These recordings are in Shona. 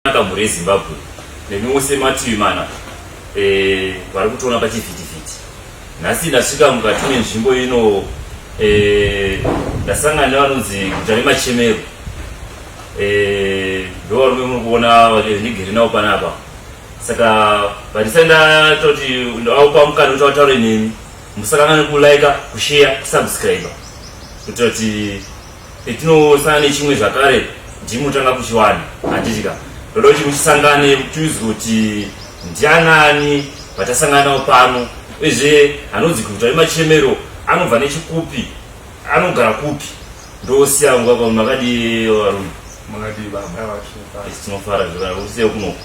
kunaka mhuri yezimbabwe nemi mose mativi mana eh, vari kutoona pachivhitivhiti nhasi ndasvika mukati menzvimbo ino eh, ndasangana nevanonzi guta remachemero eh, ndovarume muri kuona vandigere navo panapa saka vandisai ndatoti ndaupa mukana kuti vataure nemi musakangane kulaika kusheya kusubscribe kuitira kuti petinosana nechimwe zvakare ndimutanga kuchiwana handitika ndoda kuti muchisangane muchiudzwa kuti ndianani vatasangana nawo pano uyezve anonzi kuita vemachemero anobva nechikupi anogara kupi ndosiya nguva pamwe makadii varume makadii baba vacho tinofara zvakausiye kunoko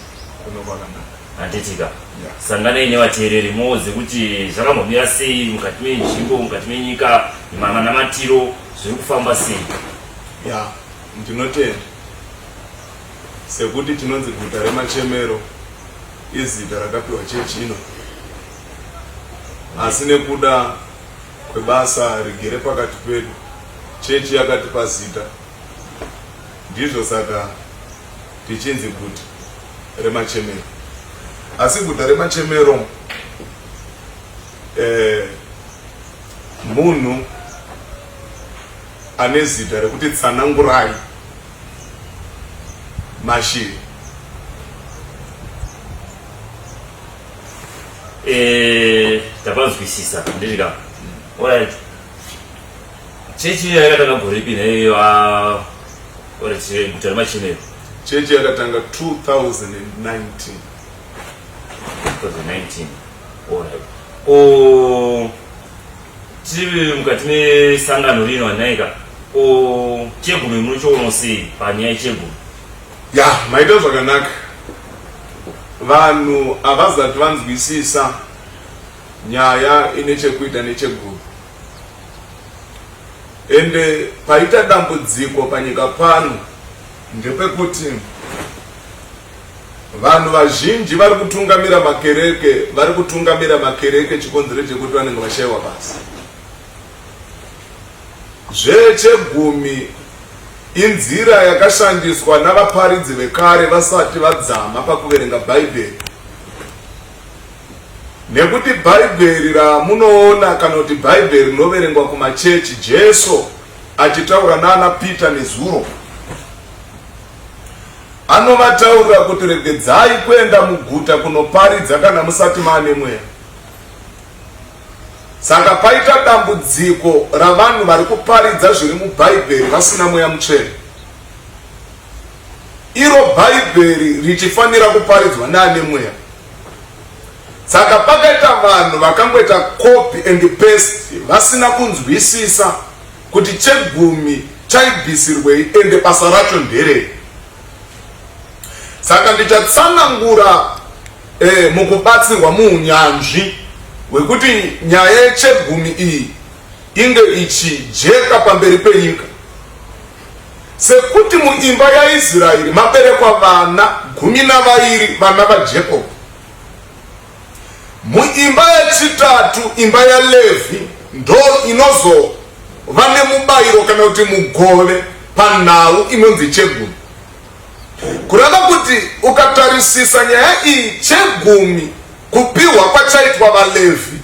kunokanaka Handitika. Yeah. Sanganai nevateereri muudze kuti zvakambomira sei mukati menzvimbo, mukati menyika, manamatiro zviri kufamba sei. Yeah. Ndinotenda sekuti tinonzi guta remachemero izita rakapiwa chechi ino asi nekuda kwebasa rigere pakati pedu chechi yakatipa zita ndizvo saka Tichinzi guta remachemero asi guta remachemero eh, munhu ane zita rekuti tsanangurai mashiri eh, tapanzwisisa ndizvika orit Chechi iyo yakatanga gore ripi neiyo ore guta remachinero? Chechi yakatanga 2019. 2019. Alright. Ko tiri mukati mesangano rino wanaika ko chegumi munochiono sei panyaya yechegumi? Ya, maita zvakanaka. Vanhu havazati vanzwisisa nyaya ine chekuita nechegumi. ende paita dambudziko panyika pano ndepekuti vanhu vazhinji vari kutungamira makereke vari kutungamira makereke chikonzero chekuti vanenge vashaiwa basa zvechegumi inzira yakashandiswa navaparidzi vekare vasati vadzama pakuverenga bhaibheri Nekuti bhaibheri ramunoona kana kuti bhaibheri rinoverengwa kumachechi Jesu achitaura nana Peter nezuro anovataurira kuti regedzai kuenda muguta kunoparidza kana musati maane mweya saka paita dambudziko ravanhu vari kuparidza zviri mubhaibheri vasina mweya mutsvene iro Bhaibheri richifanira kuparidzwa naane mweya. Saka pakaita vanhu vakangoita copy and paste vasina kunzwisisa kuti chegumi chaibvisirwei ende basa racho nderei. Saka ndichatsanangura eh, mukubatsirwa muunyanzvi hwekuti nyaya yechegumi iyi inge ichijeka pamberi penyika. Sekuti muimba yaIsraeri maberekwa vana gumi navairi, vana vaJakob. Muimba yechitatu, imba yaLevhi, ndo inozova nemubayiro kana kuti mugove panhau inonzi chegumi. Kureva kuti ukatarisisa nyaya iyi, chegumi kupiwa kwachaitwa vaLevhi.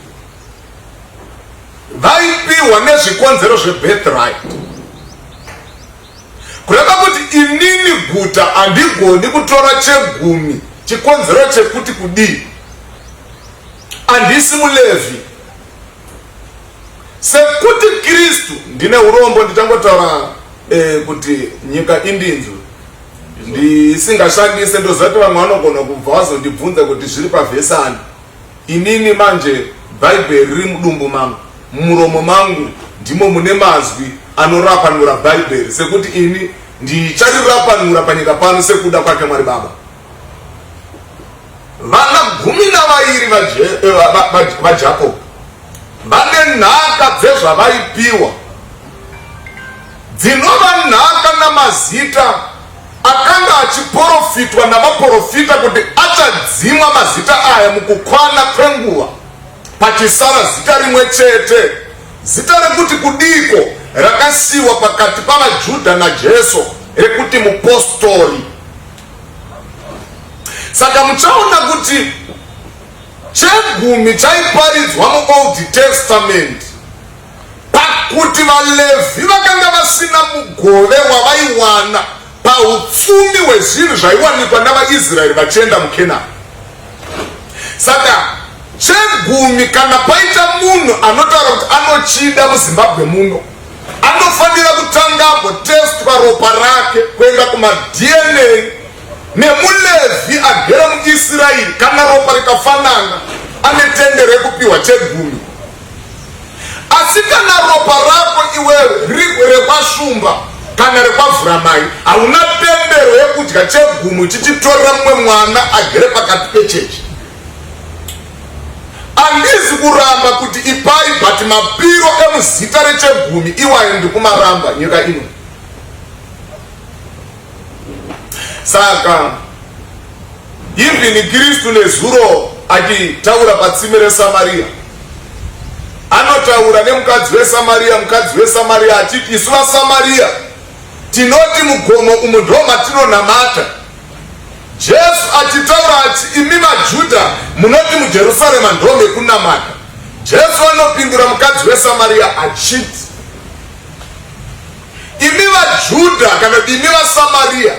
vaipiwa nezvikonzero zvebirthright kureva kuti inini guta handigoni kutora chegumi chikonzero chekuti kudii handisi mulevhi sekuti kristu ndine urombo ndichangotaura eh, kuti nyika indinzwi ndisingashandise ndozati vamwe vanogona kubva vazondibvunza kuti zviri pavhesani Inini manje bhaibheri riri mudumbu mangu, mumuromo mangu ndimo mune mazwi anorapanura bhaibheri sekuti ini ndicharirapanura panyika pano sekuda kwake Mwari Baba. Vana gumi navairi vaJakobo vane nhaka dzezvavaipiwa dzinova nhaka namazita Akanga achiporofitwa navaporofita kuti achadzimwa mazita aya mukukwana kwenguva, pachisara zita rimwe chete, zita rekuti kudiko rakasiyiwa pakati pavaJudha naJesu rekuti mupostori. Saka muchaona kuti chegumi chaiparidzwa muOld Testament Pakuti vaLevhi vakanga vasina mugove wavaiwana paupfumi hwezvinhu zvaiwanikwa navaIsraeri vachienda muKenani. Saka chegumi kana paita munhu anotaura kuti anochida muzimbabwe muno anofanira kutanga agotestwa ropa rake kuenda kumadna nemulevhi agere muisraeri kana ropa rikafanana ane tende rekupiwa chegumi asi kana ropa rako iwewe riri rekwashumba kana rekwavhura mai hauna pembero yekudya chegumu chichitorera mumwe mwana agere pakati pechechi andizi kuramba kuti ipai but mapiro emuzita rechegumi iwayo ndikumaramba nyika ino saka Even Kristu nezuro achitaura patsime reSamaria anotaura nemukadzi weSamaria, mukadzi weSamaria achiti isu vaSamaria tinoti mugomo umu ndo matinonamata. Jesu achitaura ati imi vaJudha munoti muJerusarema ndo mekunamata. Jesu anopindura mukadzi weSamaria achiti imi vaJudha kana kuti imi vaSamaria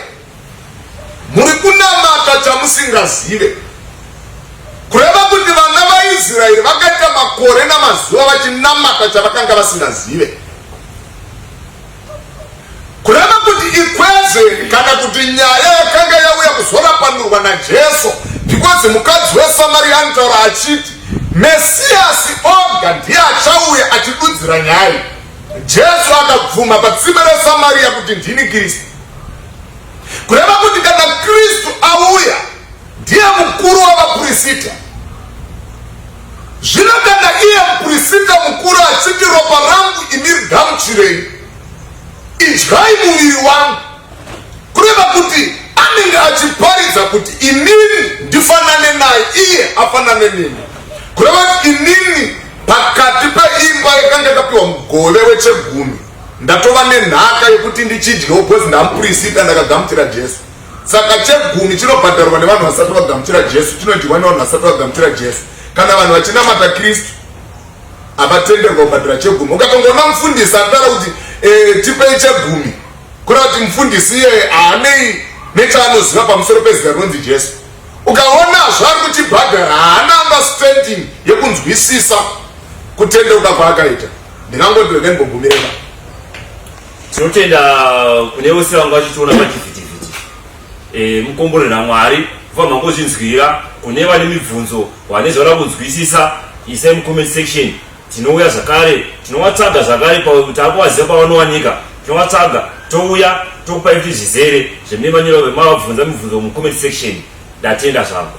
Muri kunamata chamusingazive. Kureva kuti vana vaIsraeri vakaita makore namazuva vachinamata chavakanga vasingazive. Kureva kuti ikwezveni kana kuti nyaya yakanga yauya kuzorapanurwa naJesu because mukadzi weSamaria anotaura achiti Mesiyasi oga ndiye achauya achidudzira nyaya. Jesu akabvuma patsime reSamaria kuti ndini Kristu. kureva kuti kana kristu auya ndiye mukuru wavapurisita zvino kana iye mupurisita mukuru achiti ropa rangu imiri gamuchirei idyai muviri wangu kureva kuti anenge achiparidza kuti inini ndifanane naye iye afanane neni kureva kuti inini pakati peimba yakanga yakapiwa mugove wechegumi Ndatova nenhaka yekuti ndichidyawo because ndamupurisita ndakagamuchira Jesu. Saka chegumi chinobhadharwa nevanhu vasati vagamuchira Jesu, chinodyiwa nevanhu vasati vagamuchira Jesu. Kana vanhu vachinamata Kristu havatenderwa kubhadhara chegumi. Ukatongoona mufundisi atara kuti e, tipei chegumi, kureva kuti mufundisi iye haanei nechaanoziva pamusoro pezita rinonzi Jesu. Ukaona zvaari kuchibhadhara haana understanding yekunzwisisa kutendeuka kwaakaita. ndingangoti regai mbogumire ka tinotenda kune vose vanga vachitiona pachivhitivhiti eh, mukomborera mwari kubva mangozvinzwira kune vane mibvunzo vane zvavada kunzwisisa isai mucomment section tinouya zvakare tinovatsaga zvakare pakuti akuvaziva pavanowanika tinovatsaga touya tokupai kuti zvizere zvememanyiro vemavabvunza mibvunzo mucomment section ndatenda zvangu